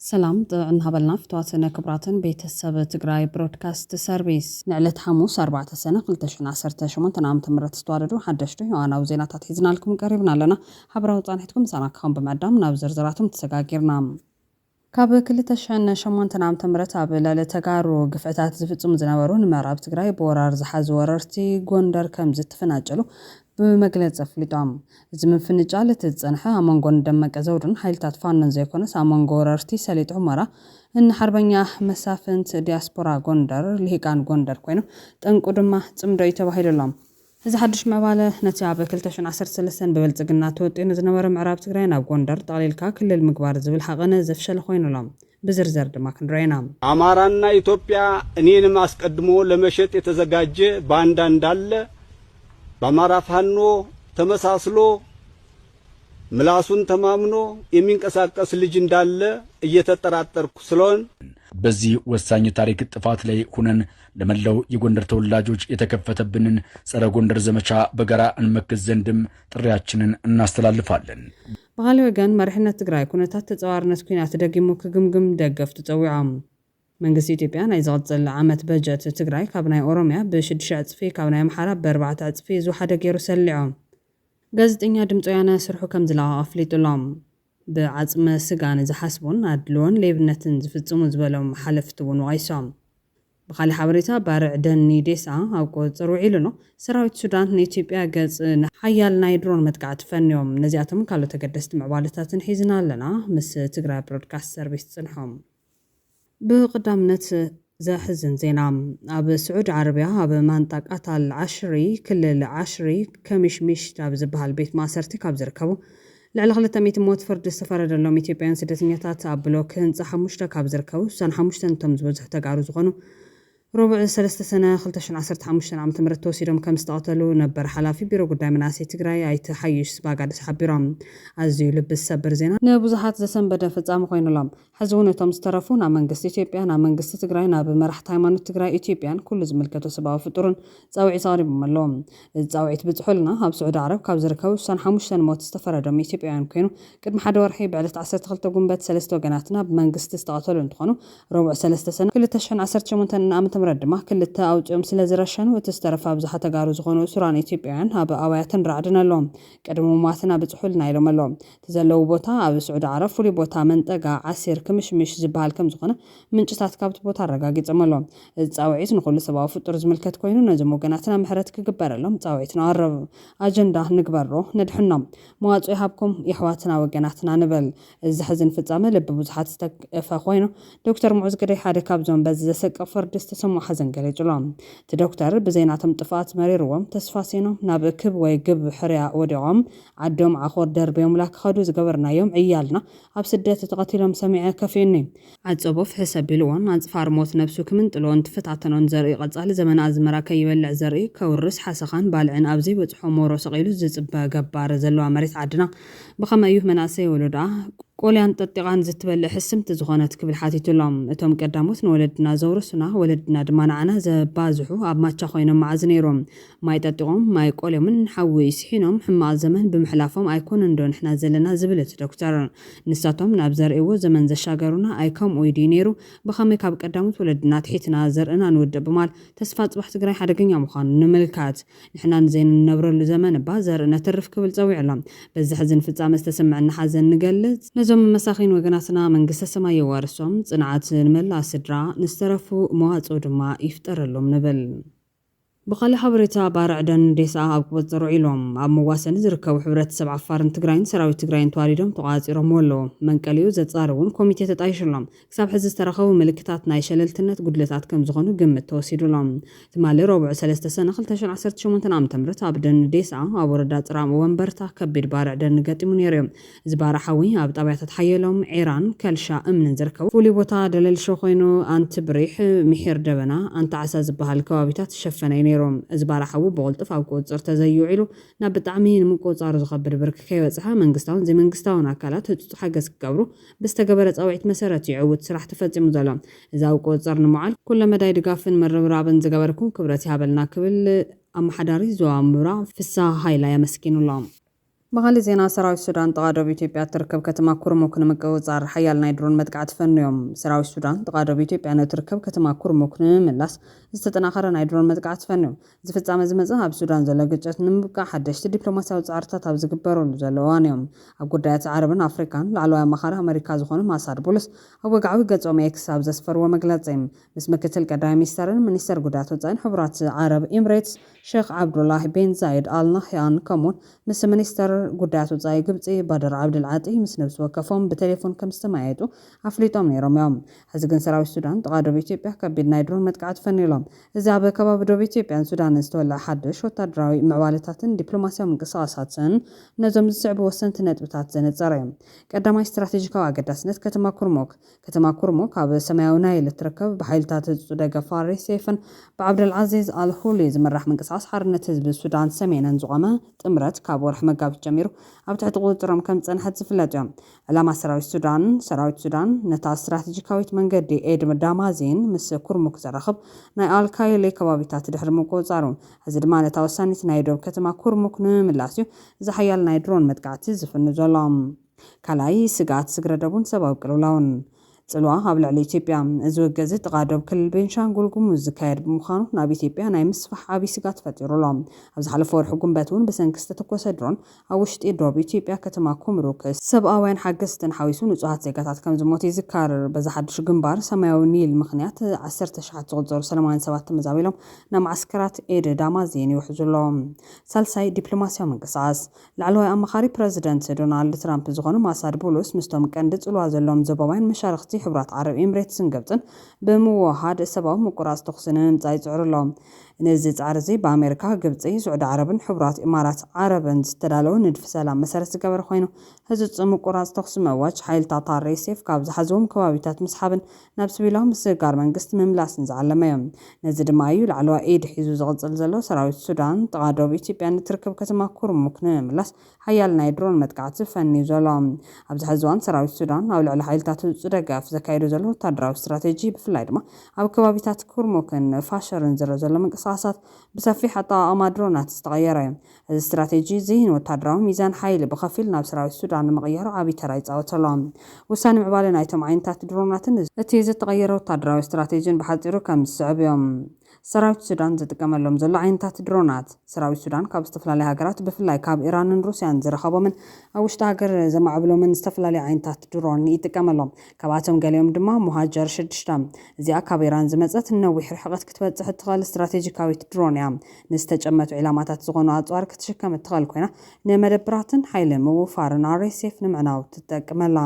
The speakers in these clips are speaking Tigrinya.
ሰላም ጥዑን ሃበልና ፍትዋትን ክብራትን ቤተሰብ ትግራይ ብሮድካስት ሰርቪስ ንዕለት ሓሙስ 4 ሰነ 218 ዓ ም ዝተዋደዱ ሓደሽቲ ዮዋናዊ ዜናታት ሒዝናልኩም ቀሪብና ኣለና ሓበራዊ ፃንሒትኩም ምሳና ክኸውን ብምዕዳም ናብ ዝርዝራቶም ተሰጋጊርና ካብ ክልተ ሽሕን ሸሞንተን ዓመተ ምህረት ኣብ ልዕሊ ተጋሩ ግፍዕታት ዝፍፅሙ ዝነበሩ ንምዕራብ ትግራይ ብወራር ዝሓዙ ወረርቲ ጎንደር ከምዝተፈናጨሉ ብመግለፂ ኣፍሊጦም። እዚ ምፍንጫል እቲ ዝፀንሐ ኣብ መንጎ ንደመቀ ዘውዱን ሓይልታት ፋኖን ዘይኮነስ ኣብ መንጎ ወረርቲ ሰሊጥ ሑመራ ን ሓርበኛ መሳፍንት፣ ዲያስፖራ ጎንደር፣ ልሂቃን ጎንደር ኮይኑ ጠንቁ ድማ ፅምዶ እዩ ተባሂሉሎም። እዚ ሓዱሽ ምዕባለ፣ ነቲ ኣብ ክልተ ሽሕን ዓሰርተ ሰለስተን ብብልጽግና ተወጢኑ ዝነበረ ምዕራብ ትግራይ ናብ ጎንደር ጠቕሊልካ ክልል ምግባር ዝብል ሃቐነ ዘፍሸለ ኮይኑ ኣሎ። ብዝርዘር ድማ ክንሪኦ ኢና። አማራና ኢትዮጵያ እኔንም አስቀድሞ ለመሸጥ የተዘጋጀ ባንዳ እንዳለ በአማራ ፋኖ ተመሳስሎ ምላሱን ተማምኖ የሚንቀሳቀስ ልጅ እንዳለ እየተጠራጠርኩ ስለሆን፣ በዚህ ወሳኝ የታሪክ ጥፋት ላይ ሁነን ለመላው የጎንደር ተወላጆች የተከፈተብንን ጸረ ጎንደር ዘመቻ በጋራ እንመክት ዘንድም ጥሪያችንን እናስተላልፋለን። ብኻሊ ወገን መሪሕነት ትግራይ ኩነታት ተጸዋርነት ኩናት ደጊሙ ክግምግም ደገፍቱ ጸዊዖም። መንግስቲ ኢትዮጵያ ናይ ዝቕጽል ዓመት በጀት ትግራይ ካብ ናይ ኦሮምያ ብሽዱሽተ ዕጽፊ ካብ ናይ ኣምሓራ ብኣርባዕተ ዕጽፊ ዝወሓደ ገይሩ ሰሊዖም። ጋዜጠኛ ድምፂ ወያነ ስርሑ ከምዝለቐቐ ኣፍሊጡ'ሎ። ብዓጽመ ስጋ ንዝሓስቡን ኣድልዎን ሌብነትን ዝፍጽሙ ዝበሎም ሓለፍቲ'ውን ወቒሶም። ብኻልእ ሓበሬታ ባርዕ ደኒ ዴሳ ኣብ ቁጽጽር ውዒሉ'ሎ። ሰራዊት ሱዳን ንኢትዮጵያ ገጽ ንሓያል ናይ ድሮን መጥቃዕቲ ፈንዮም። ነዚኣቶምን ካልኦት ኣገደስቲ ምዕባለታትን ሒዝና ኣለና ምስ ትግራይ ብሮድካስት ሰርቪስ ጽንሑ። ብቕዳምነት ዘሕዝን ዜና ኣብ ስዑድ ዓረብያ ኣብ ማንጣቅ ኣታል ዓሽሪ ክልል ዓሽሪ ከሚሽ ሚሽት ኣብ ዝበሃል ቤት ማእሰርቲ ካብ ዝርከቡ ልዕሊ ክልተ ሚእቲ ሞት ፍርዲ ዝተፈረደሎም ኢትዮጵያውያን ስደተኛታት ኣብ ብሎክ ህንፃ ሓሙሽተ ካብ ዝርከቡ ስሳን ሓሙሽተን እቶም ዝበዝሑ ተጋሩ ዝኾኑ ረቡዕ ሰለስተ ሰነ ክልተ ሽሕን ዓሰርተ ሓሙሽተን ዓመተ ምህረት ተወሲዶም ከም ዝተቐተሉ ነበር ሓላፊ ቢሮ ጉዳይ መናእሰይ ትግራይ ኣይተ ሓዩሽ ስባጋድስ ሓቢሮም። ኣዝዩ ልቢ ዝሰብር ዜና። ንብዙሓት ዘሰንበደ ፍፃመ ኮይኑ ኣሎ። ሕዚ እውን እቶም ዝተረፉ ናብ መንግስቲ ኢትዮጵያ፣ ናብ መንግስቲ ትግራይ፣ ናብ መራሕቲ ሃይማኖት ትግራይ፣ ኢትዮጵያን ኩሉ ዝምልከቶ ሰብኣዊ ፍጡርን ፃውዒት ኣቕሪቦም ኣለዉ። እዚ ጻውዒት ብጽሑልና ኣብ ስዑዲ ዓረብ ካብ ዝርከቡ እሳን ሓሙሽተን ሞት ዝተፈረዶም ኢትዮጵያውያን ኮይኑ፣ ቅድሚ ሓደ ወርሒ ብዕለት ዓሰርተ ክልተ ጉንበት ሰለስተ ወገናትና ብመንግስቲ ዝተቐተሉ እንትኾኑ፣ ረቡዕ ሰለስተ ሰነ ክልተ ሽሕን ዓሰርተ ሸሞንተን ዓመተ ምህረት ድማ ክልተ ኣውጺኦም ስለዝረሸኑ እቲ ዝተረፈ ኣብዝሓ ተጋሩ ዝኾኑ እሱራን ኢትዮጵያውያን ኣብ ኣባያትን ራዕድን ኣለዉ። ቅድሚ ምሟትና ብጽሑልና ኢሎም ኣለዉ። እቲ ዘለዉ ቦታ ኣብ ስዑዲ ዓረብ ፍሉይ ቦታ መንጠጋ ዓሲር ክምሽምሽ ዝበሃል ከምዝኾነ ምንጭታት ካብቲ ቦታ ኣረጋጊጾም ኣለዉ። እዚ ጻውዒት ንኹሉ ሰባዊ ፍጡር ዝምልከት ኮይኑ ነዞም ወገናትና ምሕረት ክግበረሎም ጻውዒት ነቕርብ። ኣጀንዳ ንግበሮ ነድሕኖም። መዋጽኦ ይሃብኩም የሕዋትና ወገናትና ንበል። እዚ ዘሕዝን ፍጻመ ልቢ ብዙሓት ዝተግፈ ኮይኑ ዶክተር ሙዑዝ ግደይ ሓደ ካብዞም በዚ ዘሰቅቕ ፍርዲ ዝተሰምዖ ሓዘን ገሊጹ'ሎ። እቲ ዶክተር ብዘይ ናቶም ጥፍኣት መሪርዎም ተስፋ ሲኖም ናብ ክብ ወይ ግብ ሕርያ ወዲቖም ዓዶም ዓኾር ደርብዮምላ ክኸዱ ዝገበርናዮም ዕያልና ኣብ ስደት ተቐቲሎም ሰሚዐ ከፊኡኒ። ዓጸቦ ፍሕስ ኣቢልዎ ናጽፋር ሞት ነብሱ ክምንጥሎን ትፈታተኖን ዘርኢ ቀጻሊ ዘመን ኣዝመራ ከይበልዕ ዘርኢ ከውርስ ሓሰኻን ባልዕን ኣብ ዘይበጽሖ ሞሮ ሰቒሉ ዝጽበ ገባር ዘለዋ መሬት ዓድና ብኸመይ እዩ መናእሰይ ወሎዶኣ ቆልያን ጠጢቓን ዝትበልዕ ሕስምቲ ዝኾነት ክብል ሓቲቱ ኣሎ። እቶም ቀዳሞት ንወለድና ዘውረሱና ወለድና ድማ ንዓና ዘባዝሑ ኣብ ማቻ ኮይኖም መዓዝ ነይሩ ማይ ጠጢቖም፣ ማይ ቆልዮምን ሓዊ ስሒኖም ሕማቕ ዘመን ብምሕላፎም ኣይኮነንዶ ንሕና ዘለና ዝብል እቲ ዶክተር። ንሳቶም ናብ ዘርእይዎ ዘመን ዘሻገሩና ኣይከምኡይ ድዩ ነይሩ? ብኸመይ ካብ ቀዳሞት ወለድና ኣትሒትና ዘርእና ንውድእ ብማል ተስፋ ፅባሕ ትግራይ ሓደገኛ ምዃኑ ንምልከት። ንሕና ንዘይንነብረሉ ዘመን እባ ዘርኢ ነትርፍ ክብል ፀዊዑሎም። በዚ ሕዝን ፍፃመ ዝተሰመዐና ሓዘን ንገልፅ። ነዞም መሳኺን ወገናትና መንግስተ ሰማይ የዋርሶም፣ ፅንዓት ንመላእ ስድራ፣ ንዝተረፉ መዋፅኦ ድማ ይፍጠረሎም ንብል። ብኻልእ ሓበሬታ ባርዕ ደን ዴስኣ ኣብ ቁፅፅር ውዒሎም ኣብ መዋሰኒ ዝርከቡ ሕብረተሰብ ዓፋርን ትግራይን ሰራዊት ትግራይን ተዋዲዶም ተቋፃፂሮምዎ ኣለው። መንቀሊኡ ዘፃሪ እውን ኮሚቴ ተጣይሹሎም ክሳብ ሕዚ ዝተረኸቡ ምልክታት ናይ ሸለልትነት ጉድለታት ከምዝኾኑ ግምት ተወሲዱሎም ትማሊ ረቡዕ ሰለስተ ሰነ ክልተ ሽሕን ዓሰርተ ሸሞንተን ዓመተ ምህረት ኣብ ደን ዴስኣ ኣብ ወረዳ ፅራም ወንበርታ ከቢድ ባርዕ ደን ገጢሙ ነይሩ እዩ። ዝባር ሓዊ ኣብ ጣብያታት ሓየሎም፣ ዒራን፣ ከልሻ እምንን ዝርከቡ ፍሉይ ቦታ ደለልሾ ኮይኑ ኣንትብሪሕ፣ ምሒር ደበና፣ ኣንታዓሳ ዝበሃል ከባቢታት ዝሸፈነ እዩ ነይሩ። እዚ ባር ሓዊ ብቕልጡፍ ኣብ ቁፅፅር ተዘይዩ ውዒሉ ናብ ብጣዕሚ ንምቁፅፃሩ ዝኸብድ ብርኪ ከይበፅሐ መንግስታውን ዘይመንግስታውን ኣካላት ህፁፅ ሓገዝ ክገብሩ ብዝተገበረ ፃውዒት መሰረት እዩ ዕውት ስራሕ ተፈፂሙ ዘሎ። እዚ ኣብ ቁፅፅር ንምውዓል ኩለመዳይ ድጋፍን ምርብራብን ዝገበርኩም ክብረት ይሃበልና ክብል ኣመሓዳሪ ዞባ ምብራቕ ፍስሃ ሃይላይ ኣመስጊኑ'ሎ። ብኻሊእ ዜና ሰራዊት ሱዳን ጥቓ ዶብ ኢትዮጵያ እትርከብ ከተማ ኩርሙክ ንምቅብጻር ሓያል ናይ ድሮን መጥቃዕቲ ፈኑዮም። ሰራዊት ሱዳን ጥቓ ዶብ ኢትዮጵያ ንእትርከብ ከተማ ኩርሙክ ንምምላስ ዝተጠናኸረ ናይ ድሮን መጥቃዕቲ ፈኑዩ። እዚ ፍጻመ ዝመጸ ኣብ ሱዳን ዘሎ ግጭት ንምብቃዕ ሓደሽቲ ዲፕሎማስያዊ ጻዕርታት ኣብ ዝግበረሉ ዘሎ እዋንዮ። ኣብ ጉዳያት ዓረብን ኣፍሪካን ላዕለዋይ ኣማኻሪ ኣመሪካ ዝኾኑ ማሳድ ቡሉስ ኣብ ወግዓዊ ገጾም ኤክስ ኣብ ዘስፈርዎ መግለጺ ምስ ምክትል ቀዳማይ ሚኒስተርን ሚኒስተር ጉዳያት ወጻኢን ሕቡራት ዓረብ ኢምሬትስ ሸኽ ዓብዱላህ ቢን ዛይድ ኣል ናህያን ከምኡ'ውን ምስ ሚኒስተር ጉዳያት ወጻኢ ግብጺ ባድር ዓብድል ዓጢ ምስ ነብሲ ወከፎም ብቴሌፎን ከም ዝተመያየጡ ኣፍሊጦም ነይሮም እዮም። ሕዚ ግን ሰራዊት ሱዳን ጥቓ ዶብ ኢትዮጵያ ከቢድ ናይ ድሮን መጥቃዕቲ ፈንዩ ኣሎ። እዚ ኣብ ከባቢ ዶብ ኢትዮጵያን ሱዳንን ዝተወልዐ ሓድሽ ወተሃደራዊ ምዕባለታትን ዲፕሎማስያዊ ምንቅስቓሳትን ነዞም ዝስዕቡ ወሰንቲ ነጥብታት ዘነጸረ እዩ። ቀዳማይ፣ ስትራቴጂካዊ ኣገዳስነት ከተማ ኩርሙክ። ከተማ ኩርሙክ ኣብ ሰማያዊ ናይል እትርከብ ብሓይልታት ህጹጽ ደገፍ ፋሪስ ሴፍን ብዓብደልዓዚዝ ኣል ሁሊ ዝምራሕ ምንቅስቓስ ሓርነት ህዝቢ ሱዳን ሰሜንን ዝቖመ ጥምረት ካብ ወርሒ መጋቢት ጀሚሩ ኣብ ትሕቲ ቁጽጽሮም ከም ዝጸንሐት ዝፍለጥዮ። ዕላማ ሰራዊት ሱዳን ሰራዊት ሱዳን ነታ ስትራተጂካዊት መንገዲ ኤድን ዳማዚን ምስ ኩርሙክ ዘራኽብ ናይ ኣል ካይሊ ከባቢታት ድሕሪ ምቁጽጻሩ ሕዚ ድማ ነታ ወሳኒት ናይ ዶብ ከተማ ኩርሙክ ንምምላስዩ እዚ ሓያል ናይ ድሮን መጥቃዕቲ ዝፍኑ ዘሎ። ካልኣይ ስግኣት ስግረዶብን ሰባዊ ቅልውላውን ጽልዋ ኣብ ልዕሊ ኢትዮጵያ። እዚ ውግእዚ ጥቓ ዶብ ክልል ቤንሻንጉል ጉሙዝ ዝካየድ ብምዃኑ ናብ ኢትዮጵያ ናይ ምስፋሕ ዓብይ ስግኣት ፈጢሩ ኣሎ። ኣብ ዝሓለፈ ወርሒ ጉንበት እውን ብሰንኪ ዝተተኮሰ ድሮን ኣብ ውሽጢ ዶብ ኢትዮጵያ ከተማ ኩምሩክ፣ ሰብኣውያን ሓገዝትን ሓዊሱ ንጹሃት ዜጋታት ከምዝሞቱ ይዝከር። በዚ ሓድሽ ግንባር ሰማያዊ ኒል ምኽንያት ዓሰርተ ኣሽሓት ዝቑጸሩ ሰለማውያን ሰባት ተመዛቢሎም ናብ መዓስከራት ኤደይ ዳማዚን ይውሕዙ ኣለዉ። ሳልሳይ ዲፕሎማሲያዊ ምንቅስቓስ ላዕለዋይ ኣማኻሪ ፕረዚደንት ዶናልድ ትራምፕ ዝኾኑ ማሳድ ቡሉስ ምስቶም ቀንዲ ጽልዋ ዘለዎም ዞባውያን መሻርኽቲ ሕቡራት ዓረብ ኤምሬትስን ግብጽን ብምውህሃድ ሰባዊ ምቁራጽ ተኹሲ ንምምጻእ ይጽዕሩ ኣለዉ። ነዚ ጻዕሪ እዚ ብኣመሪካ፣ ግብጺ፣ ስዑዲ ዓረብን ሕቡራት ኢማራት ዓረብን ዝተዳለወ ንድፊ ሰላም መሰረት ዝገበረ ኮይኑ፣ ህጹጽ ምቁራጽ ተኹሲ ምእዋጅ፣ ሓይልታት RSF ካብ ዝሓዝዎም ከባቢታት ምስሓብን ናብ ስቪላዊ ምስግጋር መንግስቲ ምምላስን ዝዓለመዮ። ነዚ ድማ እዩ ላዕለዋይ ኢድ ሒዙ ዝቕጽል ዘሎ። ሰራዊት ሱዳን፣ ጥቓ ዶብ ኢትዮጵያ ንትርከብ ከተማ ኩርሙክ ንምምላስ ሓያል ናይ ድሮን መጥቃዕቲ ፈንዩ ዘሎ። ኣብዚ ሐዚ እዋን ሰራዊት ሱዳን ኣብ ልዕሊ ሓይልታት ህጹጽ ደገፍ ዘካይዶ ዘሎ ወታደራዊ ስትራቴጂ ብፍላይ ድማ ኣብ ከባቢታት ኩርሙክን ፋሸርን ዝርእ ዘሎ ምንቅስቓሳት ብሰፊሕ ኣጠቓቕማ ድሮናት ዝተቐየረ እዚ ስትራቴጂ እዚ ንወታደራዊ ሚዛን ሓይሊ ብኸፊል ናብ ሰራዊት ሱዳን ንምቕያር ዓቢ ተራ ይጻወት ኣሎ። ውሳነ ምዕባለ ናይቶም ዓይነታት ድሮናትን እቲ ዝተቐየረ ወታደራዊ ስትራቴጂን ብሓጺሩ ከም ዝስዕብ እዮም። ሰራዊት ሱዳን ዝጥቀመሎም ዘሎ ዓይነታት ድሮናት። ሰራዊት ሱዳን ካብ ዝተፈላለያ ሃገራት ብፍላይ ካብ ኢራንን ሩስያን ዝረኸቦምን ኣብ ውሽጢ ሃገር ዘማዕብሎምን ዝተፈላለዩ ዓይነታት ድሮን ይጥቀም ኣሎ። ካብኣቶም ገሊኦም ድማ ሞሃጀር ሽዱሽተ እዚኣ ካብ ኢራን ዝመጸት ንነዊሕ ርሕቕት ክትበጽሕ እትኽእል ስትራቴጂካዊት ድሮን እያ። ንዝተጨመቱ ዒላማታት ዝኾኑ ኣጽዋር ክትሽከም እትኽእል ኮይና፣ ንመደብራትን ሓይሊ ምውፋርን RSF ንምዕናው ትጠቅመላ።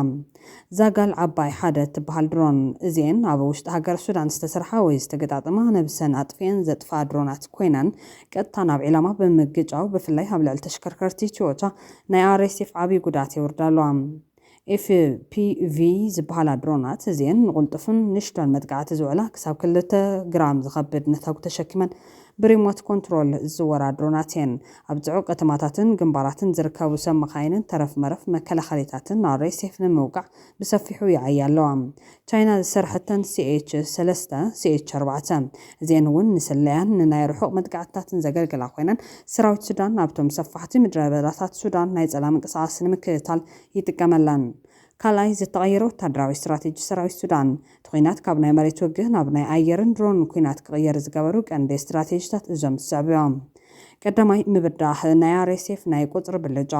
ዛጋል ዓባይ ሓደ እትበሃል ድሮን፣ እዚኤን ኣብ ውሽጢ ሃገር ሱዳን ዝተሰርሓ ወይ ዝተገጣጠማ ነብሰን ኣጥፊኤን ዘጥፍኣ ድሮናት ኮይነን ቀጥታ ናብ ዒላማ ብምግጫው ብፍላይ ኣብ ልዕሊ ተሽከርከርቲ ትዮታ ናይ RSF ዓብዪ ጉድኣት የውርዳ ኣለዋ። FPV ዝበሃላ ድሮናት እዚኤን ንቕልጡፍን ንሽቶን መጥቃዕቲ ዝውዕላ ክሳብ ክልተ ግራም ዝኸብድ ነታጒ ተሸኪመን ብሪሞት ኮንትሮል ዝዝወራ ድሮናት እየን። ኣብ ጽዑቕ ከተማታትን ግንባራትን ዝርከቡ ሰብ መኻይንን ተረፍ መረፍ መከላኸሊታትን RSF ንምውቃዕ ብሰፊሑ ይዓያ ኣለዋ። ቻይና ዝሰርሐተን ሲኤች ሰለስተ፣ ሲኤች ኣርባዕተ፣ እዚኤን እውን ንስለያን ንናይ ርሑቕ መጥቃዕትታትን ዘገልግላ ኮይነን ሰራዊት ሱዳን ናብቶም ሰፋሕቲ ምድረበዳታት ሱዳን ናይ ጸላ ምንቅስቓስ ንምክትታል ይጥቀመለን። ካልኣይ ዝተቐየረ ወታደራዊ ስትራቴጂ ሰራዊት ሱዳን፣ እቲ ኲናት ካብ ናይ መሬት ውግእ ናብ ናይ ኣየርን ድሮንን ኲናት ክቕየር ዝገበሩ ቀንዲ ስትራቴጂታት እዞም ዝስዕቡ እዮም። ቀዳማይ ምብዳህ ናይ RSF ናይ ቁጽሪ ብልጫ።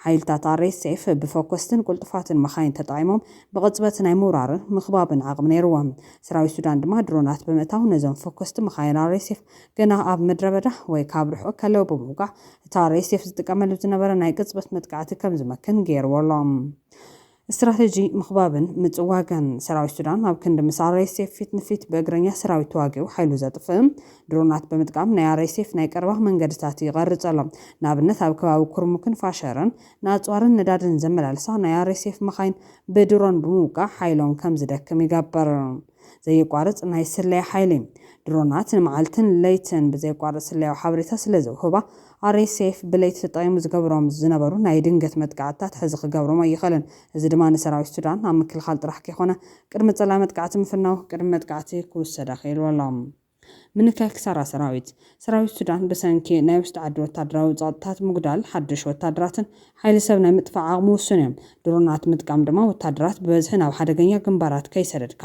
ሓይልታት RSF ብፈኮስትን ቁልጡፋትን መኻይን ተጠቒሞም ብቕጽበት ናይ ምውራርን ምኽባብን ዓቕሚ ነይርዎም። ሰራዊት ሱዳን ድማ ድሮናት ብምእታው ነዞም ፈኮስቲ መኻይን RSF ገና ኣብ ምድረበዳ ወይ ካብ ርሑቕ ከለዉ ብምውቃዕ እቲ RSF ዝጥቀመሉ ዝነበረ ናይ ቅጽበት መጥቃዕቲ ከም ዝመክን ገይርዎ ኣሎ። ስትራቴጂ ምኽባብን ምጽዋግን፣ ሰራዊት ሱዳን ኣብ ክንዲ ምስ RSF ፊት ንፊት ብእግረኛ ሰራዊት ተዋጊኡ ሓይሉ ዘጥፍእ፣ ድሮናት ብምጥቃም ናይ RSF ናይ ቀረባ መንገድታት ይቐርጽ ኣሎ። ንኣብነት ኣብ ከባቢ ኩርሙክን ፋሸርን ንኣጽዋርን ነዳድን ዘመላልሳ ናይ RSF መኻይን ብድሮን ብምውቃዕ ሓይሎም ከም ዝደክም ይገብር። ዘየቋርጽ ናይ ስለያ ሓይሊ። ድሮናት ንመዓልትን ለይትን ብዘየቋርጽ ስለያዊ ሓበሬታ ስለዘውህባ፣ RSF ብለይቲ ተጠቒሙ ዝገብሮም ዝነበሩ ናይ ድንገት መጥቃዕትታት ሕዚ ክገብሮም ኣይኽእልን። እዚ ድማ ንሰራዊት ሱዳን ኣብ ምክልኻል ጥራሕ ከይኮነ፣ ቅድሚ ጸላኢ መጥቃዕቲ ምፍናው፣ ቅድሚ መጥቃዕቲ ክውሰድ ኣኽኢልዎ ኣሎ። ምንካይ ክሳራ ሰራዊት ሰራዊት ሱዳን ብሰንኪ ናይ ውሽጢ ዓዲ ወታደራዊ ጸቕጥታት ምጉዳል ሓድሽ ወታደራትን ሓይሊ ሰብ ናይ ምጥፋእ ዓቕሙ ውሱን እዩ። ድሮናት ምጥቃም ድማ ወታደራት ብበዝሒ ናብ ሓደገኛ ግንባራት ከይሰደድካ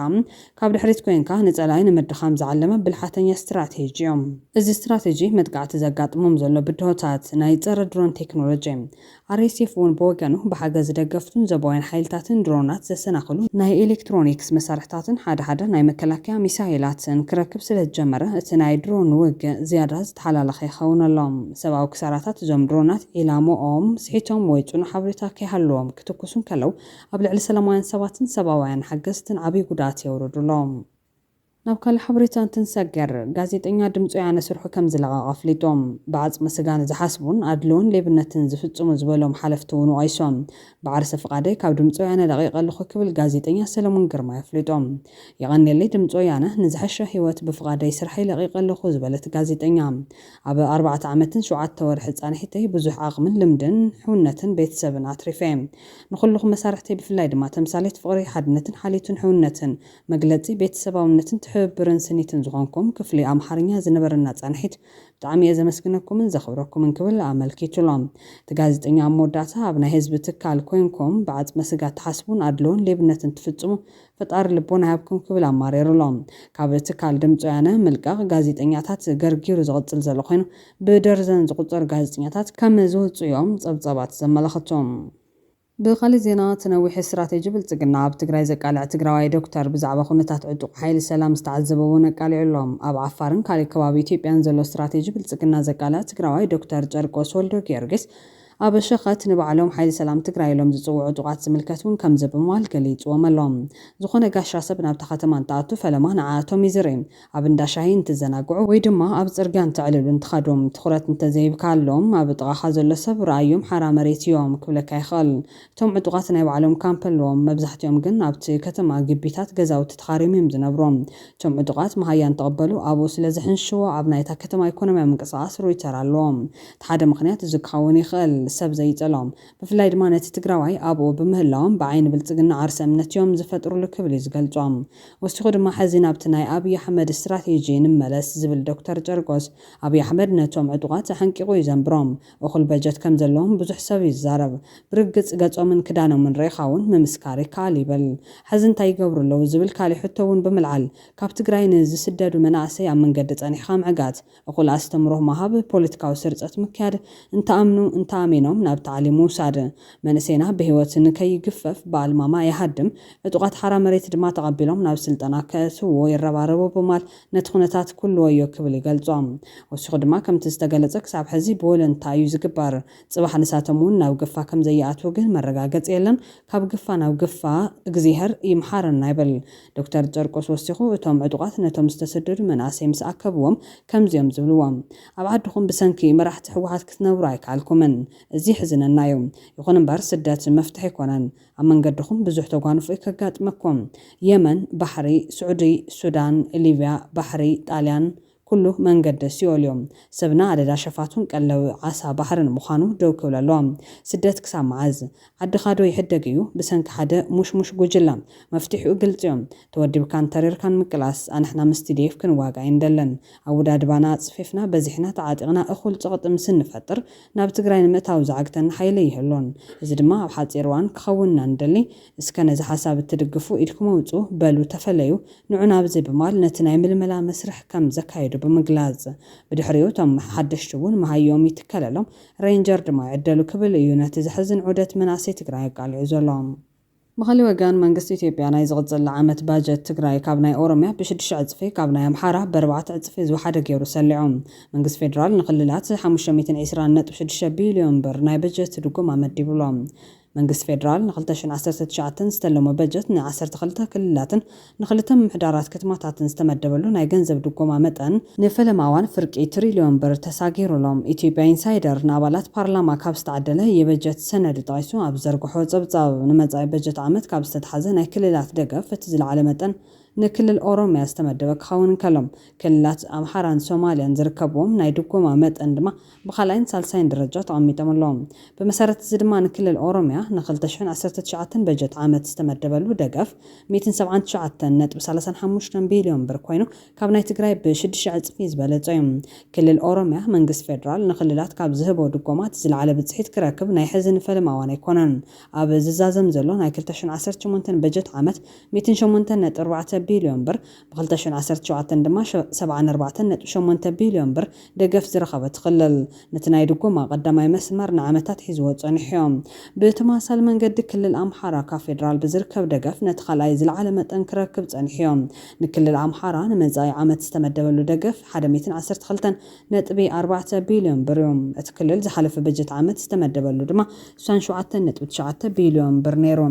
ካብ ድሕሪት ኮይንካ ንጸላኢ ንምድኻም ዝዓለመ ብልሓተኛ ስትራቴጂ እዩ። እዚ ስትራቴጂ መጥቃዕቲ ዘጋጥሞም ዘሎ ብድሆታት ናይ ጸረ ድሮን ቴክኖሎጂ ኣርኤስኤፍ እውን ብወገኑ፣ ብሓገዝ ደገፍቱን ዞባውያን ሓይልታትን ድሮናት ዘሰናኽሉ ናይ ኤሌክትሮኒክስ መሳርሕታትን ሓደ ሓደ ናይ መከላከያ ሚሳይላትን ክረክብ ስለዝጀመረ፣ እቲ ናይ ድሮን ውግእ ዝያዳ ዝተሓላለኸ ይኸውን ኣሎ። ሰብኣዊ ክሳራታት እዞም ድሮናት ዒላምኦም ስሒቶም ወይ ጽኑዕ ሓበሬታ ከይሃለዎም ክትኩሱ እንከለው፣ ኣብ ልዕሊ ሰላማውያን ሰባትን ሰብኣውያን ሓገዝትን ዓብይ ጉድኣት የውርዱ ኣለው። ናብ ካልእ ሓበሬታ እንትንሰገር፣ ጋዜጠኛ ድምጺ ወያነ ስርሑ ከም ዝለቐቐ ኣፍሊጡ። ብዓጽመ ስጋ ንዝሓስቡን ኣድልዎን ሌብነትን ዝፍጽሙ ዝበሎም ሓለፍቲ እውን ወቒሱ። ብዓርሰ ፍቓደይ ካብ ድምጺ ወያነ ለቒቐ ኣለኹ ክብል ጋዜጠኛ ሰለሙን ግርማይ ኣፍሊጡ። የቐንየለይ ድምጺ ወያነ፣ ንዝሐሸ ህይወት ብፍቓደይ ስርሐይ ለቒቐ ኣለኹ ዝበለት ጋዜጠኛ፣ ኣብ ኣርባዕተ ዓመትን ሸውዓተ ወርሒ ጻንሒተይ ብዙሕ ዓቕምን ልምድን፣ ሕውነትን ቤተሰብን ኣትሪፈ'የ። ንኹልኹም መሳርሕተይ ብፍላይ ድማ ተምሳሌት ፍቕሪ፣ ሓድነትን ሓልዮትን ሕውነትን መግለጺ ቤተሰባውነትን ትሕብብርን ስኒትን ዝኾንኩም ክፍሊ ኣምሓርኛ ዝነበረና ጻንሒት ብጣዕሚ እየ ዘመስግነኩምን ዘኽብረኩምን ክብል ኣመልኪቱ'ሎ። እቲ ጋዜጠኛ ኣብ መወዳእታ ኣብ ናይ ህዝቢ ትካል ኮይንኩም ብዓጽመ ስጋ ትሓስቡን ኣድልዎን ሌብነትን ትፍጽሙ ፈጣሪ ልቦና ይሃብኩም ክብል ኣማሪሩ'ሎ። ካብ ትካል ድምጺ ወያነ ምልቃቕ ጋዜጠኛታት ገርጊሩ ዝቕጽል ዘሎ ኮይኑ ብደርዘን ዝቑጸሩ ጋዜጠኛታት ከም ዝወጽኡ'ዮም ጸብጻባት ዘመላኽቱ። ብኻሊእ ዜና እቲ ነዊሕ እስትራቴጂ ብልፅግና ኣብ ትግራይ ዘቃልዕ ትግራዋይ ዶክተር ብዛዕባ ኩነታት ዕጡቕ ሓይሊ ሰላም ዝተዓዘቦ እውን ኣቃሊዑ ኣሎ። ኣብ ዓፋርን ካሊእ ከባቢ ኢትዮጵያን ዘሎ እስትራቴጂ ብልፅግና ዘቃልዕ ትግራዋይ ዶክተር ጨርቆስ ወልደጊዮርጊስ ኣብ ሸኸት ንባዕሎም ሓይሊ ሰላም ትግራይ ኢሎም ዝፅውዑ ዕጡቓት ዝምልከት እውን ከምዚ ብምባል ገሊፅዎም ኣሎ። ዝኾነ ጋሻ ሰብ ናብታ ከተማ እንትኣቱ ፈለማ ንዓኣቶም ይዝሪ። ኣብ እንዳ ሻሂ እንትዘናግዑ ወይ ድማ ኣብ ጽርግያ እንተዕልሉ እንትኸዶም ትኹረት እንተዘይብካሎም ኣብ ጥቓኻ ዘሎ ሰብ ረኣዮም ሓራ መሬት እዮም ክብለካ ይኽእል። እቶም ዕጡቓት ናይ ባዕሎም ካምፕ ኣለዎም፣ መብዛሕቲኦም ግን ኣብቲ ከተማ ግቢታት ገዛውቲ ተኻርዮም እዮም ዝነብሩ። እቶም ዕጡቓት መሃያ እንትቕበሉ ኣብኡ ስለዝሕንሽሽዎ ኣብ ናይታ ከተማ ኢኮኖሚያዊ ምንቅስቓስ ርኡይ ተራ ኣለዎም። እቲ ሓደ ምኽንያት እዚ ክኸውን ይኽእል፣ ሰብ ዘይጸሎም፣ ብፍላይ ድማ ነቲ ትግራዋይ ኣብኡ ብምህላዎም ብዓይኒ ብልፅግና ዓርሰ እምነት እዮም ዝፈጥርሉ ክብል እዩ ዝገልፆም። ወሲኹ ድማ ሕዚ ናብቲ ናይ ኣብይ ኣሕመድ ስትራቴጂ ንመለስ ዝብል ዶክተር ጨርቆስ፣ ኣብይ ኣሕመድ ነቶም ዕጡቓት ኣሐንቂቑ እዩ ዘንብሮም። እኹል በጀት ከም ዘለዎም ብዙሕ ሰብ እዩ ዝዛረብ። ብርግፅ ገፆምን ክዳኖምን ርኢኻ እውን ምምስካር ይከኣል ይብል። ሕዚ እንታይ ይገብሩ ኣለዉ ዝብል ካሊእ ሕቶ እውን ብምልዓል፣ ካብ ትግራይ ንዝስደዱ መናእሰይ ኣብ መንገዲ ፀኒሕኻ ምዕጋት፣ እኹል ኣስተምሮ ምሃብ፣ ፖለቲካዊ ስርጸት ምክያድ፣ እንተኣምኑ እንተኣሜኖም ናብ ታዕሊም ምውሳድ። መንእሰይና ብህይወት ንከይግፈፍ ብኣልማማ ይሃድም፣ ዕጡቓት ሓራ መሬት ድማ ተቐቢሎም ናብ ስልጠና ከእትውዎ ይረባረቡ ብማል ነቲ ኩነታት ኩሉ ወዮ ክብል ይገልጾ። ወሲኹ ድማ ከምቲ ዝተገለጸ ክሳብ ሕዚ ብወለንታ እዩ ዝግበር። ጽባሕ ንሳቶም እውን ናብ ግፋ ከምዘይኣትዉ ግን መረጋገጺ የለን። ካብ ግፋ ናብ ግፋ እግዜሀር ይምሓረና ይብል። ዶክተር ጨርቆስ ወሲኹ፣ እቶም ዕጡቓት ነቶም ዝተሰደዱ መናእሰይ ምስ ኣከብዎም ከምዚ'ዮም ዝብልዎም፣ ኣብ ዓድኹም ብሰንኪ መራሕቲ ህወሓት ክትነብሩ ኣይከኣልኩምን። እዚ የሕዝነና'ዩ። ይኹን'ምበር ስደት መፍትሒ ኣይኮነን። ኣብ መንገድኹም ብዙሕ ተጓንፎ'ዩ ከጋጥመኩም። የመን፣ ባሕሪ፣ ስዑዲ፣ ሱዳን፣ ሊብያ፣ ባሕሪ፣ ጣልያን፣ ኩሉ መንገዲ ሲኦልዮ። ሰብና ኣደዳ ሸፋቱን ቀለዊ ዓሳ ባሕርን ምዃኑ ደው ክብል ኣለዎ። ስደት ክሳብ መዓዝ? ዓድኻዶ ይሕደግ እዩ ብሰንኪ ሓደ ሙሽሙሽ ጉጅለ? መፍትሒኡ ግልጺዮ። ተወዲብካን ተሪርካን ምቅላስ። ኣንሕና ምስ ቲዲኤፍ ክንዋጋእ ኣይንደልን። ኣወዳድባና ኣጽፊፍና በዚሕና ተዓጢቕና እኹል ጽቕጢ ምስ እንፈጥር ናብ ትግራይ ንምእታው ዝዓግተና ሓይሊ ኣይህሉን። እዚ ድማ ኣብ ሓጺር እዋን ክኸውን ኢና ንደሊ። እስከ ነዚ ሓሳብ እትድግፉ ኢድኩም ኣውጹ፣ በሉ ተፈለዩ፣ ንዑ ናብዚ ብማል ነቲ ናይ ምልመላ መስርሕ ከም ዘካየዱ ብምግላጽ። ብድሕሪኡ እቶም ሓደሽቲ እውን መሃይኦም ይትከለሎም፣ ሬንጀር ድማ ይዕደሉ ክብል እዩ ነቲ ዘሕዝን ዑደት መናእሰይ ትግራይ ኣቃሊዑ ዘሎ። ብኻሊእ ወገን መንግስቲ ኢትዮጵያ ናይ ዝቕጽል ዓመት ባጀት ትግራይ ካብ ናይ ኦሮሚያ ብሽዱሽተ ዕጽፊ ካብ ናይ ኣምሓራ ብኣርባዕተ ዕጽፊ ዝወሓደ ገይሩ ሰሊዑ። መንግስቲ ፌደራል ንክልላት ሓሙሽተ ሚእትን ዕስራን ነጥቢ ሽዱሽተ ቢልዮን ብር ናይ በጀት ድጎማ መዲቡሎም። መንግስቲ ፌደራል ንክልተ ሽሕን ዓሰርተ ትሽዓተን ዝተለሞ በጀት ንዓሰርተ ክልተ ክልላትን ንክልተ ምምሕዳራት ከተማታትን ዝተመደበሉ ናይ ገንዘብ ድጎማ መጠን ንፈለማ እዋን ፍርቂ ትሪልዮን ብር ተሳጊሩ'ሎ። ኢትዮጵያ ኢንሳይደር ንኣባላት ፓርላማ ካብ ዝተዓደለ የበጀት ሰነድ ጠቒሱ ኣብ ዝዘርግሖ ጸብጻብ፣ ንመጻኢ በጀት ዓመት ካብ ዝተትሓዘ ናይ ክልላት ደገፍ እቲ ዝለዓለ መጠን ንክልል ኦሮሚያ ዝተመደበ ክኸውን እንከሎ፣ ክልላት ኣምሓራን ሶማልያን ዝርከብዎም ናይ ድጎማ መጠን ድማ ብኻልኣይን ሳልሳይን ደረጃ ተቐሚጦም ኣለዉ። ብመሰረት እዚ ድማ ንክልል ኦሮሚያ ን ክልተ ሽሕን ዓሰርተ ትሽዓተን በጀት ዓመት ዝተመደበሉ ደገፍ ሚእትን ሰብዓን ትሽዓተን ነጥቢ ሰላሳን ሓሙሽተን ቢልዮን ብር ኮይኑ ካብ ናይ ትግራይ ብ ሽድሽተ ዕፅፊ ዝበለፀ ዩ። ክልል ኦሮሚያ መንግስቲ ፌዴራል ንክልላት ካብ ዝህቦ ድጎማት ዝለዓለ ብፅሒት ክረክብ ናይ ሕዚ ንፈለማ እዋን ኣይኮነን። ኣብ ዝዛዘም ዘሎ ናይ ክልተ ሽሕን ዓሰርተ ሸሞንተን በጀት ዓመት ሚእትን ሸሞንተን ነጥቢ ኣርባዕተ ቢልዮን ብር ብ ክልተ ሽሕ ዓሰርተ ሸውዓተ ድማ ሰብዓን ኣርባዕተን ነጥቢ ሸሞንተ ቢልዮን ብር ደገፍ ዝረኸበት ክልል ነቲ ናይ ድጎማ ቀዳማይ መስመር ንዓመታት ሒዝዎ ጸኒሑዮ። ብ ተመሳሳሊ መንገዲ ክልል ኣምሓራ ካብ ፌደራል ብዝርከብ ደገፍ ነቲ ካልኣይ ዝለዓለ መጠን ክረክብ ጸኒሑዮ። ን ክልል ኣምሓራ ን መጻኢ ዓመት ዝተመደበሉ ደገፍ ሓደ ሚእትን ዓሰርተ ክልተን ነጥቢ ኣርባዕተ ቢልዮን ብር ዩ። እቲ ክልል ዝሓለፈ በጀት ዓመት ዝተመደበሉ ድማ ስሳን ሸውዓተን ነጥቢ ትሽዓተ ቢልዮን ብር ነይሩ።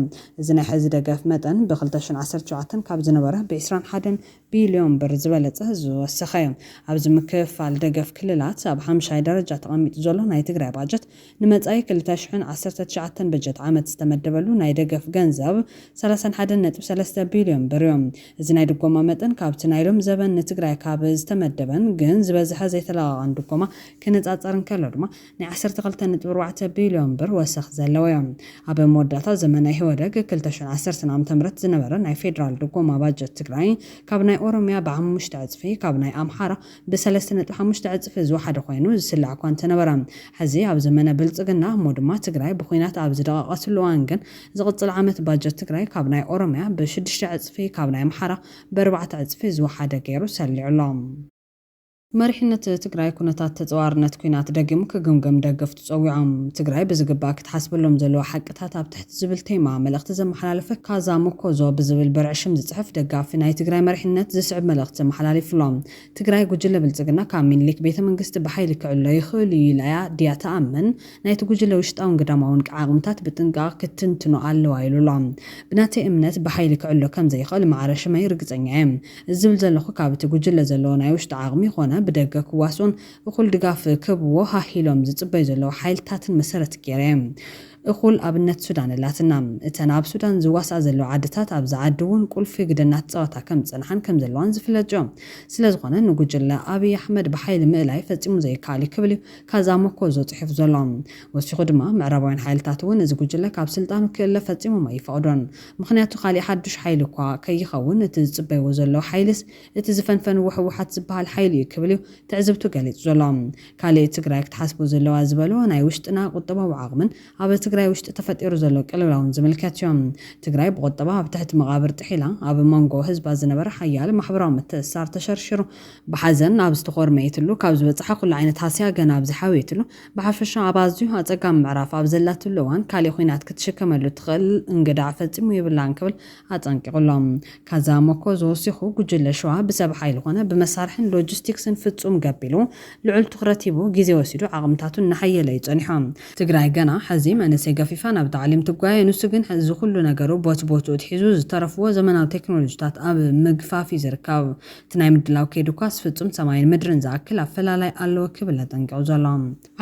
እዚ ናይ ሕዚ ደገፍ መጠን ብ ክልተ ሽሕን ዓሰርተ ሸውዓተን ካብ ዝነበረ ብ ዕስራን ሓደን ቢልዮን ብር ዝበለፀ ዝወሰኸ ዩ። ኣብዚ ምክፍፋል ደገፍ ክልላት ኣብ ሓምሻይ ደረጃ ተቐሚጡ ዘሎ ናይ ትግራይ ባጀት ንመጻኢ ክልተ ሽሕን ዓሰርተ ትሽዓተን በጀት ዓመት ዝተመደበሉ ናይ ደገፍ ገንዘብ ሰላሳን ሓደን ነጥቢ ሰለስተ ቢልዮን ብርዮ። እዚ ናይ ድጎማ መጠን ካብቲ ናይ ሎም ዘበን ንትግራይ ካብ ዝተመደበን ግን ዝበዝሐ ዘይተለቓቓን ድጎማ ክነጻጸር እንከሎ ድማ ናይ ዓሰርተ ክልተ ነጥቢ ኣርባዕተ ቢልዮን ብር ወሰኽ ዘለዎዮ። ኣብ መወዳእታ ዘመነ ኢህወደግ ክልተ ሽሕን ዓሰርተን ዓመተ ምህረት ዝነበረ ናይ ፌደራል ድጎማ ባጀት ትግራይ ካብ ናይ ኦሮሚያ ብሓሙሽተ ዕጽፊ ካብ ናይ ኣምሓራ ብሰለስተ ነጥቢ ሓሙሽተ ዕጽፊ ዝወሓደ ኮይኑ ዝስላዕ'ኳ እንተነበረ፣ ሕዚ ኣብ ዘመነ ብልጽግና እሞ ድማ ትግራይ ብኹናት ኣብ ዝደቐቐትሉ እዋን ግን ዝቕጽል ዓመት ባጀት ትግራይ ካብ ናይ ኦሮምያ ብሽዱሽተ ዕጽፊ ካብ ናይ ኣምሓራ ብኣርባዕተ ዕጽፊ ዝወሓደ ገይሩ ሰሊዑ ኣሎ። መሪሕነት ትግራይ ኩነታት ተጻዋርነት ኩናት ደጊሙ ክግምግም ደገፍቱ፣ ፀዊዖም። ትግራይ ብዝግባእ ክትሓስበሎም ዘለዋ ሓቅታት ኣብ ትሕቲ ዝብል ቴማ መልእኽቲ ዘመሓላለፈ ካዛ ሞኮዞ ብዝብል በርዒ ሽም ዝፅሕፍ ደጋፊ ናይ ትግራይ መሪሕነት ዝስዕብ መልእኽቲ ተመሓላሊፉሎም። ትግራይ ጉጅለ ብልፅግና ካብ ሚኒሊክ ቤተ መንግስቲ ብሓይሊ ክዕሎ ይኽእል እዩ ኢላ እያ ድያ ትኣምን? ናይቲ ጉጅለ ውሽጣውን ግዳማውን ዓቕምታት ብጥንቃቕ ክትትንትኖ ኣለዋ ኢሉሎም። ብናተይ እምነት ብሓይሊ ክዕሎ ከምዘይኽእል ማዕረ ሽመይ ርግፀኛ እየ። እዚ ዝብል ዘለኹ ካብ እቲ ጉጅለ ዘለዎ ናይ ውሽጢ ዓቕሚ ኾነ ብደገ ክዋስኡን እኹል ድጋፍ ክህብዎ ሃህ ኢሎም ዝጽበዩ ዘለዉ ሓይልታትን መሰረት ገይረ እየ እኹል ኣብነት ሱዳን ኣላትና። እተን ኣብ ሱዳን ዝዋስኣ ዘለዋ ዓድታት ኣብዚ ዓዲ እውን ቁልፊ ግደ እናተጻወታ ከም ዝጸንሓን ከም ዘለዋን ዝፍለጥ እዩ። ስለ ዝኾነ ንጉጅለ ኣብይ ኣሕመድ ብሓይሊ ምእላይ ፈጺሙ ዘይከኣል እዩ ክብል እዩ ካዛ ሞኮዞ ጽሒፉ ዘሎ። ወሲኹ ድማ ምዕራባውያን ሓይልታት እውን እዚ ጉጅለ ካብ ስልጣኑ ክእለ ፈጺሞም ኣይፈቕዱን ምኽንያቱ ካሊእ ሓዱሽ ሓይሊ እኳ ከይኸውን እቲ ዝጽበይዎ ዘለዉ ሓይሊስ እቲ ዝፈንፈንዎ ህወሓት ዝበሃል ሓይሊ እዩ ክብል እዩ ትዕዝብቱ ገሊፁ ዘሎ። ካሊእ ትግራይ ክትሓስቦ ዘለዋ ዝበሎ ናይ ውሽጥና ቁጠባዊ ዓቕምን ኣብ ትግራይ ውሽጢ ተፈጢሩ ዘሎ ቅልውላውን ዝምልከት እዩ። ትግራይ ብቑጠባ ኣብ ትሕቲ መቓብር ጥሒላ ኣብ ሞንጎ ህዝባ ዝነበረ ሓያል ማሕበራዊ ምትእስሳር ተሸርሺሩ ብሓዘን ኣብ ዝተኾርመየትሉ ካብ ዝበፀሐ ኩሉ ዓይነት ሃስያ ገና ኣብ ዝሓወየትሉ ብሓፈሻ ኣብ ኣዝዩ ኣፀጋሚ ምዕራፍ ኣብ ዘላትሉ እዋን ካሊእ ኹናት ክትሽከመሉ እትኽእል እንግዳዕ ፈፂሙ የብላን ክብል ኣጠንቂቑ'ሎ። ካዛ ሞኮዝ ወሲኹ፣ ጉጅለ ሸዋ ብሰብ ሓይሊ ኮነ ብመሳርሕን ሎጂስቲክስን ፍጹም ገቢሉ፣ ልዑል ትኹረት ሂቡ፣ ግዜ ወሲዱ ዓቕምታቱ እናሐየለ እዩ ጸኒሖ። ትግራይ ገና ሐዚ መንእሰይ ገፊፋ ናብ ታዕሊም ትጓየ፣ ንሱ ግን ሐዚ ኩሉ ነገሩ ቦትቦትኡ ትሒዙ፣ ዝተረፍዎ ዘመናዊ ቴክኖሎጂታት ኣብ ምግፋፍ እዩ ዝርከብ። እቲ ናይ ምድላው ከይዲ እኳስ ፍጹም ሰማይን ምድርን ዝኣክል ኣፈላላይ ኣለዎ ክብል ኣጠንቂቑ ዘሎ።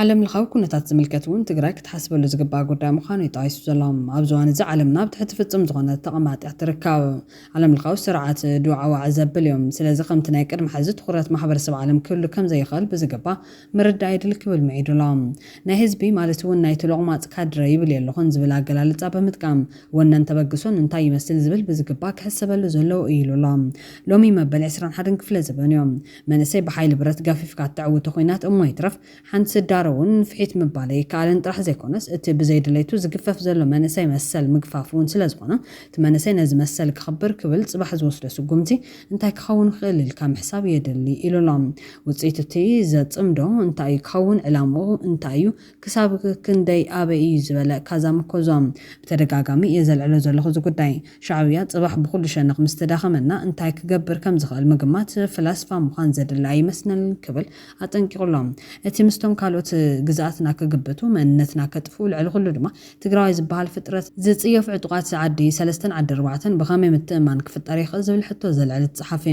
ዓለም ለኻዊ ኩነታት ዝምልከት እውን ትግራይ ክትሓስበሉ ዝግባእ ጉዳይ ምዃኑ እዩ ጠቒሱ ዘሎ። ኣብዚ እዋን እዚ ዓለምና ኣብ ትሕቲ ፍፁም ዝኾነ ተቐማጥ እያ ትርከብ። ዓለም ለኻዊ ስርዓት ዶ ዓዋዒ ዘብል እዩ? ስለዚ ከምቲ ናይ ቅድሚ ሐዚ ትኹረት ማሕበረሰብ ዓለም ክህሉ ከምዘይኽእል ብዝግባእ ምርዳእ የድሊ ክብል ምዒዱ ኣሎ። ናይ ህዝቢ ማለት እውን ናይቲ ሎቕማፅ ካድረ ይብል የለኹን ዝብል ኣገላልፃ ብምጥቃም ወነን ተበግሶን እንታይ ይመስል ዝብል ብዝግባእ ክሕሰበሉ ዘለዎ እዩ ኢሉ ኣሎ። ሎሚ መበል ዕስራን ሓደን ክፍለ ዘበን እዩ። መንእሰይ ብሓይሊ ብረት ገፊፍካ እተዕውቶ ኹናት እሞ ይትረፍ ሓንቲ ስዳሮ እውን ንፍሒት ምባል ኣይከኣልን ጥራሕ ዘይኮነስ እቲ ብዘይ ድሌቱ ዝግፈፍ ዘሎ መንእሰይ መሰል ምግፋፍ እውን ስለ ዝኾነ እቲ መንእሰይ ነዚ መሰል ከኽብር ክብል ፅባሕ ዝወስዶ ስጉምቲ እንታይ ክኸውን ይኽእል ኢልካ ምሕሳብ የድሊ ኢሉ ኣሎ። ውፅኢት እቲ ዘፅምዶ እንታይ እዩ ክኸውን ዕላምኡ እንታይ እዩ ክሳብ ክንደይ ኣበይ እዩ ዝበለ ካዛም እኮ እዞም። ብተደጋጋሚ እየ ዘልዕሎ ዘለኹ እዚ ጉዳይ። ሻዕብያ ጽባሕ ብኹሉ ሸነኽ ምስ ተዳኸመና እንታይ ክገብር ከም ዝኽእል ምግማት ፍላስፋ ምዃን ዘድሊ ኣይመስለንን ክብል ኣጠንቂቑ ኣሎ። እቲ ምስቶም ካልኦት ግዝኣትና ክግብቱ መንነትና ከጥፍኡ ልዕሊ ኩሉ ድማ ትግራዋይ ዝበሃል ፍጥረት ዝጽየፉ ዕጡቓት ዓዲ ሰለስተን ዓዲ ኣርባዕተን ብኸመይ ምትእምማን ክፍጠር ይኽእል ዝብል ሕቶ ዘልዕል እቲ ጸሓፊ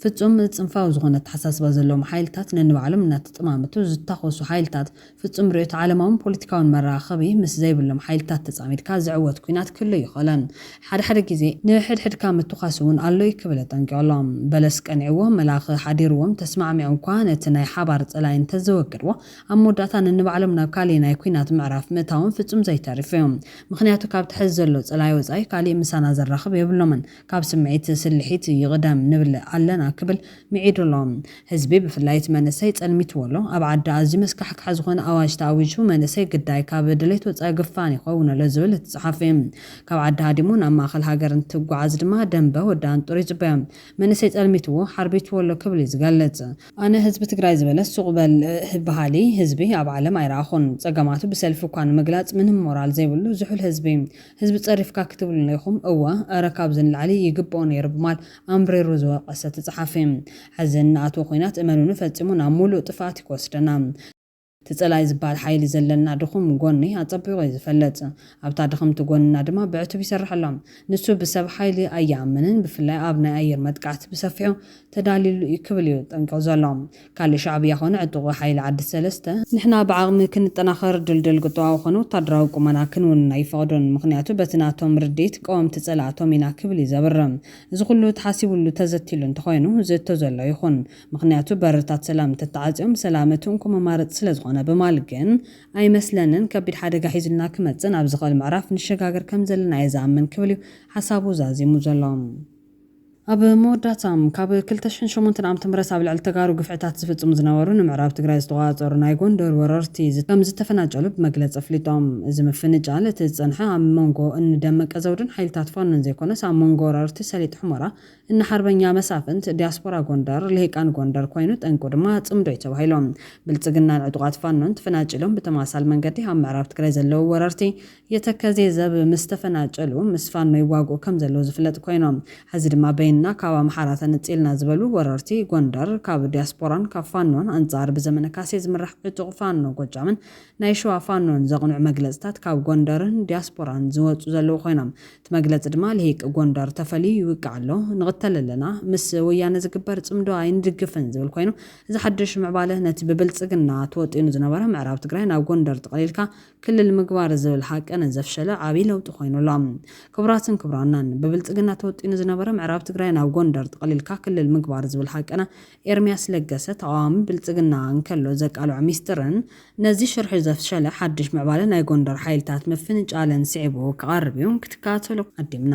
ፍጹም ጽንፋዊ ዝኾነ ኣተሓሳስባ ዘለዎም ሓይልታት ነንባዕሎም እናተጠማመቱ ዝታኾሱ ሓይልታት፣ ፍጹም ርእዮተ ዓለማውን ፖለቲካውን መራኸቢ ምስ ዘይብሎም ሓይልታት ተጻሚድካ ዝዕወት ኩናት ክህሉ ኣይኸእለን። ሓደ ሓደ ግዜ ንሕድሕድካ ምትኳስ እውን ኣሎ እዩ ክብል ኣጠንቂቑ ኣሎ። በለስ ቀኒዕዎ መላኺ ሓዲርዎም ተስማዕሚዖምኳ ነቲ ናይ ሓባር ጸላኢ እንተዘወገድዎ ኣብ መወዳእታ ነንባዕሎም ናብ ካሊእ ናይ ኩናት ምዕራፍ ምእታዎም ፍጹም ዘይተርፍ እዩ። ምኽንያቱ ካብቲ ሐዚ ዘሎ ጸላኢ ወጻኢ ካሊእ ምሳና ዘራኽብ የብሎምን። ካብ ስምዒት ስልሒት ይቕደም ንብል ኣለና ክብል ምዒዱ ኣሎ። ህዝቢ ብፍላይ እቲ መንእሰይ ጸልሚትዎ ኣሎ። ኣብ ዓዲ ኣዝዩ መስካሕካሒ ዝኾነ ኣዋጅ ተኣዊጁ መንእሰይ ግዳይ ካብ ድሌት ወጻኢ ግፋን ይኸውን ኣሎ ዝብል እቲ ጸሓፊ ካብ ዓዲ ሃዲሙ ናብ ማእኸል ሃገር እንትጓዓዝ ድማ ደምበ ወዲ ኣንጡር ይጽበዮ መንእሰይ ጸልሚትዎ ሓርቢትዎ ኣሎ ክብል እዩ ዝገልጽ። ኣነ ህዝቢ ትግራይ ዝበለስ ሱቕ በል በሃሊ ህዝቢ ኣብ ዓለም ኣይረኣኹን። ጸገማቱ ብሰልፊ እኳ ንምግላጽ ምንም ሞራል ዘይብሉ ዝሑል ህዝቢ ህዝቢ ጸሪፍካ ክትብሉና ኢኹም እወ እረ ካብዚ ንላዕሊ ይግብኦ ነይሩ ብማል ኣምሪሩ ዝወቀሰ እቲ ጸሓፊ ሐዚ እንኣትዎ ኹናት እመኑኒ ፈጺሙ ናብ ሙሉእ ጥፍኣት እዩ ክወስደና። እቲ ጸላኢ ዝበሃል ሓይሊ ዘለና ድኹም ጎኒ ኣጸቢቑ እዩ ዝፈልጥ ኣብታ ድኽምቲ ጎንና ድማ ብዕቱብ ይሰርሐላ ንሱ ብሰብ ሓይሊ ኣይኣምንን ብፍላይ ኣብ ናይ ኣየር መጥቃዕቲ ብሰፊሑ ተዳልዩሉ እዩ ክብል እዩ ጠንቂቑ ዘሎ ካልእ ሻዕብያ ኮነ ዕጡቕ ሓይሊ ዓዲ ሰለስተ፣ ንሕና ብዓቕሚ ክንጠናኸር ድልድል ቁጠባዊ ኮነ ወታደራዊ ቁመና ክንውንን ኣይፈቕዱን፣ ምኽንያቱ በቲ ናቶም ርድኢት ቀወምቲ ጸላእቶም ኢና ክብል እዩ ዘብርህ። እዚ ኩሉ ተሓሲቡሉ ተዘትይሉ እንተኾይኑ ዝእቶ ዘሎ ኣይኹን፣ ምኽንያቱ በርታት ሰላም እንተተዓጽዮም ሰላም እቲ እንኮ መማረጺ ስለዝኾነ ብማል ግን ኣይመስለንን፣ ከቢድ ሓደጋ ሒዙልና ክመጽእን ኣብ ዝኽእል ምዕራፍ ንሸጋገር ከምዘለና እየ ዝኣምን ክብል እዩ ሓሳቡ ዛዚሙ ዘሎ። ኣብ መወዳእታም፣ ካብ ክልተ ሽሕን ሸሞንተን ዓመተ ምህረት ኣብ ልዕሊ ተጋሩ ግፍዕታት ዝፍጽሙ ዝነበሩ ንምዕራብ ትግራይ ዝተቖጻጸሩ ናይ ጎንደር ወረርቲ ከም ዝተፈናጨሉ ብመግለጺ ኣፍሊጦም። እዚ ምፍንጫል እቲ ዝጸንሐ ኣብ መንጎ እኒ ደመቀ ዘውዱን ሓይልታት ፋኖን ዘይኮነስ ኣብ መንጎ ወረርቲ ሰሊጥ ሑመራ፣ እኒ ሓርበኛ መሳፍንት፣ ዲያስፖራ ጎንደር፣ ልሂቃን ጎንደር ኮይኑ ጠንቁ ድማ ጽምዶ እዩ ተባሂሉ። ብልጽግናን ዕጡቓት ፋኖን ተፈናጪሎም ብተመሳሳሊ መንገዲ ኣብ ምዕራብ ትግራይ ዘለዉ ወረርቲ የተከዜ ዘብ ምስ ተፈናጨሉ ምስ ፋኖ ይዋግኡ ከም ዘለው ዝፍለጥ ኮይኑ ሐዚ ድማ በይንና ካብ ኣምሓራ ተነፂልና ዝበሉ ወረርቲ ጎንደር ካብ ዲያስፖራን ካብ ፋኖን ኣንፃር ብዘመነ ካሴ ዝምራሕ ዕጡቅ ፋኖ ጎጃምን ናይ ሸዋ ፋኖን ዘቅኑዕ መግለፅታት ካብ ጎንደርን ዲያስፖራን ዝወፁ ዘለው ኮይኖም እቲ መግለፂ ድማ ልሂቅ ጎንደር ተፈልዩ ይውቃዕ ኣሎ ንቅተል ኣለና ምስ ወያነ ዝግበር ፅምዶ ኣይንድግፍን ዝብል ኮይኑ እዚ ሓዱሽ ምዕባለ ነቲ ብብልፅግና ተወጢኑ ዝነበረ ምዕራብ ትግራይ ናብ ጎንደር ጥቅሊልካ ክልል ምግባር ዝብል ሃቂ ንዘፍሸለ ዓብይ ለውጢ ኮይኑ ኣሎ። ክቡራትን ክቡራናን ብብልፅግና ተወጢኑ ዝነበረ ምዕራብ ትግራይ ናብ ጎንደር ጥቅሊልካ ክልል ምግባር ዝብል ሃቅና ኤርሚያስ ለገሰ ተቃዋሚ ብልፅግና እንከሎ ዘቃልዖ ሚስጥርን ነዚ ሽርሒ ዘፍሸለ ሓድሽ ምዕባለ ናይ ጎንደር ሓይልታት ምፍንጫልን ስዒቡ ክቀርብ እዩ ክትከታተሎ ዓዲምና።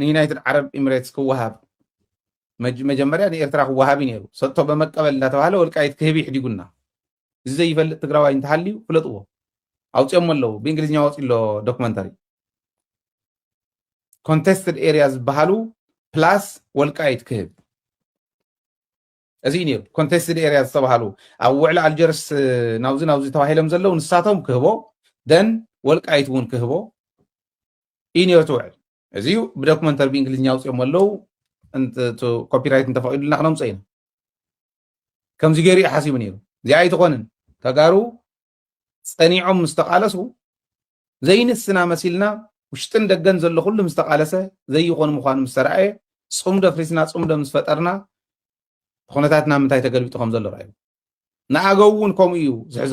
ንዩናይትድ ዓረብ ኢምሬትስ ክወሃብ መጀመርያ ንኤርትራ ክወሃብ እዩ ነይሩ ሰጥቶ በመቀበል እንዳተባሃለ ወልቃይት ክህብ ይሕዲጉና እዚ ዘይፈልጥ ትግራዋይ እንተሃልዩ ፍለጥዎ ኣውፅኦሞ ኣለዉ ብእንግሊዝኛ ወፂ ኣሎ ዶክመንተሪ ኮንቴስትድ ኤሪያ ዝበሃሉ ፕላስ ወልቃይት ክህብ እዚ እዩ ነይሩ ኮንቴስትድ ኤርያ ዝተባሃሉ ኣብ ውዕሊ ኣልጀርስ ናብዚ ናብዚ ተባሂሎም ዘለው ንሳቶም ክህቦ ደን ወልቃይት እውን ክህቦ እዩ ነይሩ ትውዕል እዚ እዩ ብዶክመንተሪ ብእንግሊዝኛ ኣውፅኦም ኣለው ኮፒራይት እንተፈቂዱልና ክነምፀ ኢና ከምዚ ገይሩ እዩ ሓሲቡ ነይሩ እዚኣ ኣይትኾንን ተጋሩ ጸኒዖም ምስ ተቓለሱ ዘይንስና መሲልና ውሽጥን ደገን ዘሎ ኩሉ ምስ ተቓለሰ ዘይኾኑ ምዃኑ ምስ ተረኣየ ጽምዶ ፍሪስና ጽምዶ ምስ ፈጠርና ኩነታት ናብ ምንታይ ተገልቢጡ ከም ዘሎ ረኣዩ ንኣገው እውን ከምኡ እዩ ዝሕዞ